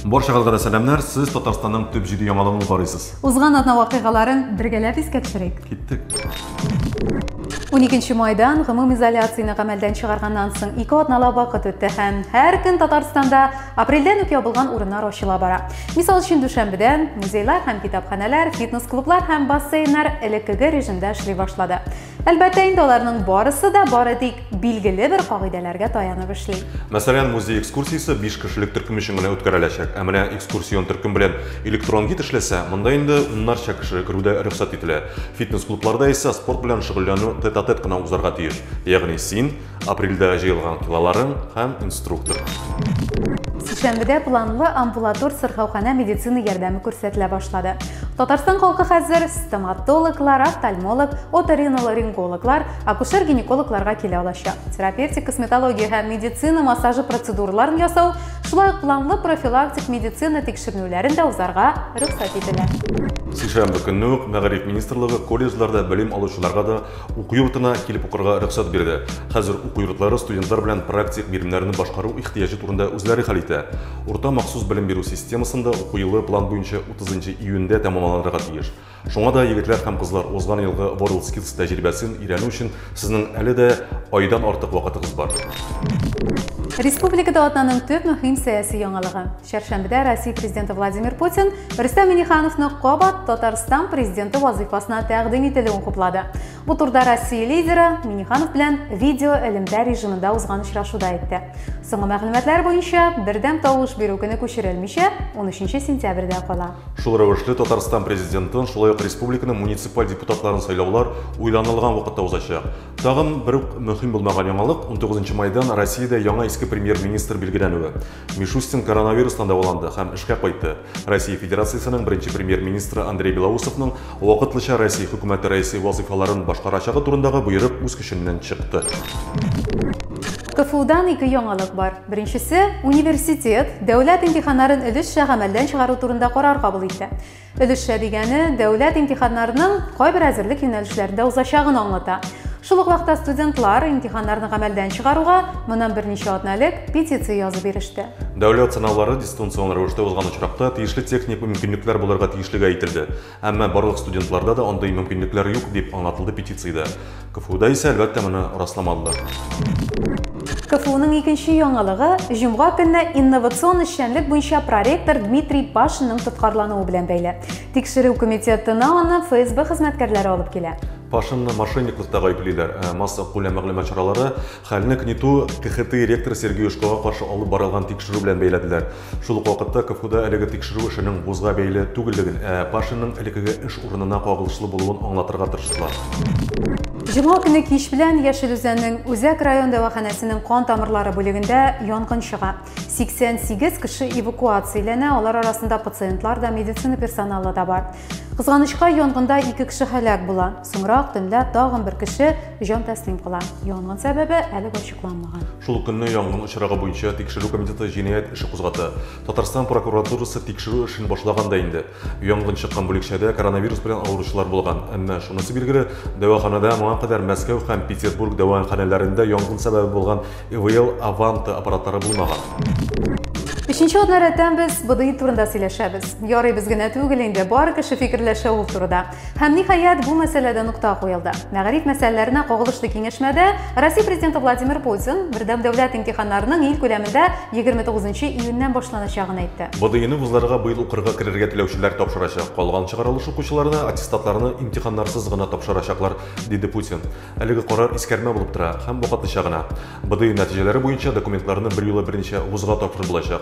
Баршагызга да сәламнәр. Сез Татарстанның төп җиде яңалыгын карыйсыз. Узган атна вакыйгаларын бергәләп искә төшерик. Киттек. 12 майдан гомум изоляцияне гамәлдән чыгарганнан соң ике атналап вакыт үтте һәм һәр көн Татарстанда апрельдән үк ябылган урыннар ачыла бара. Мисал өчен Дүшәмбедән музейлар һәм китапханәләр, фитнес-клублар һәм бассейннар элеккеге режимда эшли башлады. Әлбәттә инде аларның барысы да бары тик билгеле бер кагыйдәләргә таянып эшли. Мәсәлән, музей экскурсиясе 5 кешелек төркем өчен генә үткәреләчәк. Ә менә экскурсион төркем белән электрон гид эшләсә, монда инде уннарча кеше керүдә рөхсәт ителә. Фитнес-клубларда исә спорт белән шөгыльләнү тет-а-тет кына узарга тиеш. Ягъни син, Апрельдә җыелган кылаларым һәм инструктор. Сиксәнбедә планлы амбулатор сырхауханә медицина ярдәме күрсәтелә башлады. Татарстан халкы хәзер стоматологлар, офтальмолог, оториноларингологлар, акушер-гинекологларга килә алачак. Терапевтик косметология һәм медицина массажы процедураларын ясау, шулай ук планлы профилактик медицина тикшеренүләрен дә узарга рөхсәт ителә. Сишәмбе көнне үк Мәгариф министрлыгы колледжларда белем алучыларга да Уку йортына килеп укырга рөхсәт бирде. Хәзер уку йортлары студентлар белән практик биремнәрне башкару ихтыяҗы турында үзләре хәл итә. Урта махсус белем бирү системасында уку елы план буенча 30 июньдә тәмамланырга тиеш. Шуңа да, егетләр һәм кызлар, узган елгы WorldSkills тәҗрибәсен өйрәнү өчен сезнең әле дә айдан артык вакытыгыз бар. Республикада атнаның төп мөһим сәяси яңалыгы. Чәршәмбедә Россия Президенты Владимир Путин Рөстәм Минихановны кабат Татарстан президенты вазыйфасына тәкъдим ителүен хуплады. Бу турда Россия лидеры Миниханов белән видео элемтә режимында узган очрашуда әйтте. Соңгы мәгълүматлар буенча, бердәм тавыш бирү көне күчерелмичә, 13 сентябрьдә кала. Шул рәвешле Татарстан президентын, шулай ук республиканың муниципаль депутатларын сайлаулар уйланылган вакытта узачак. Тагын бер үк мөһим булмаган яңалык, 19 майдан Россиядә яңа иске премьер-министр билгеләнүе. Мишустин коронавирустан дәваланды һәм эшкә кайтты. Россия Федерациясенең беренче премьер-министры Андрей Белоусовның вакытлыча Россия хөкүмәте рәисе вазыйфаларын башкарачагы турындагы боерык үз көченнән чыкты. КФУдан ике яңалык бар. Беренчесе, университет дәүләт имтиханнарын өлешчә гамәлдән чыгару турында карар кабул итте. Өлешчә дигәне дәүләт имтиханнарының кайбер әзерлек юнәлешләрендә узачагын аңлата. Шул ук вакытта студентлар имтиханнарны гамәлдән чыгаруга моннан берничә атна элек петиция язып биреште. Дәүләт сынаулары дистанцион рәвештә узган очракта тиешле техник мөмкинлекләр булырга тиешлеге әйтелде. Әмма барлык студентларда да андый мөмкинлекләр юк, дип аңлатылды петициядә. КФУда исә, әлбәттә, моны расламадылар. КФУның икенче яңалыгы җомга көнне инновацион эшчәнлек буенча проректор Дмитрий Пашинның тоткарлануы белән бәйле. Тикшерү комитетына аны ФСБ хезмәткәрләре алып килә. Пашинны мошенниклыкта гаеплиләр. Э, масса күләм мәгълүмат чаралары Хәлне КНИТУ КХТИ ректоры Сергей Ушкога каршы алып барылган тикшерү белән бәйләделәр. Шул ук вакытта КФУда әлеге тикшерү эшенең вузга бәйле түгеллеген, ә Пашинның элеккеге эш урынына кагылышлы булуын аңлатырга тырыштылар. Җомга көне кич белән Яшел Үзәннең Үзәк район дәваханәсенең кан тамырлары бүлегендә янгын чыга. 88 кеше эвакуацияләнә, алар арасында пациентлар да, медицина персоналы да бар. Кызганычка, янгында ике кеше һәлак була. Соңрак төнлә тагын бер кеше Җан тәслим кыла. Янгын сәбәбе әле ачыкланмаган. Шул көнне янгын очрагы буенча тикшерү комитеты җинаять эше кузгата. Татарстан прокуратурасы тикшерү эшен башлаган да инде. Янгын чыккан бүлекчәдә коронавирус белән авыручылар булган. Әмма шунысы билгеле, дәваханәдә моңа кадәр Мәскәү һәм Петербург дәваханәләрендә янгын сәбәбе булган ИВЛ Аванта аппаратлары булмаган. Өченче атна рәттән без БДИ турында сөйләшәбез. Ярый без генә түгел инде, бар кеше фикерләшә ул турыда. Һәм, ниһаять, бу мәсьәләдә нокта куелды. Мәгариф мәсьәләләренә кагылышлы киңәшмәдә Россия президенты Владимир Путин бердәм дәүләт имтиханнарының ил күләмендә 29 июньнән башланачагын әйтте. БДИны вузларга быел укырга керергә теләүчеләр тапшырачак, калган чыгарылыш укучыларына аттестатларны имтиханнарсыз гына тапшырачаклар, диде Путин. Әлеге карар искәрмә булып тора һәм вакытлыча гына. БДИ нәтиҗәләре буенча документларны берьюлы берничә вузга тапшырылачак.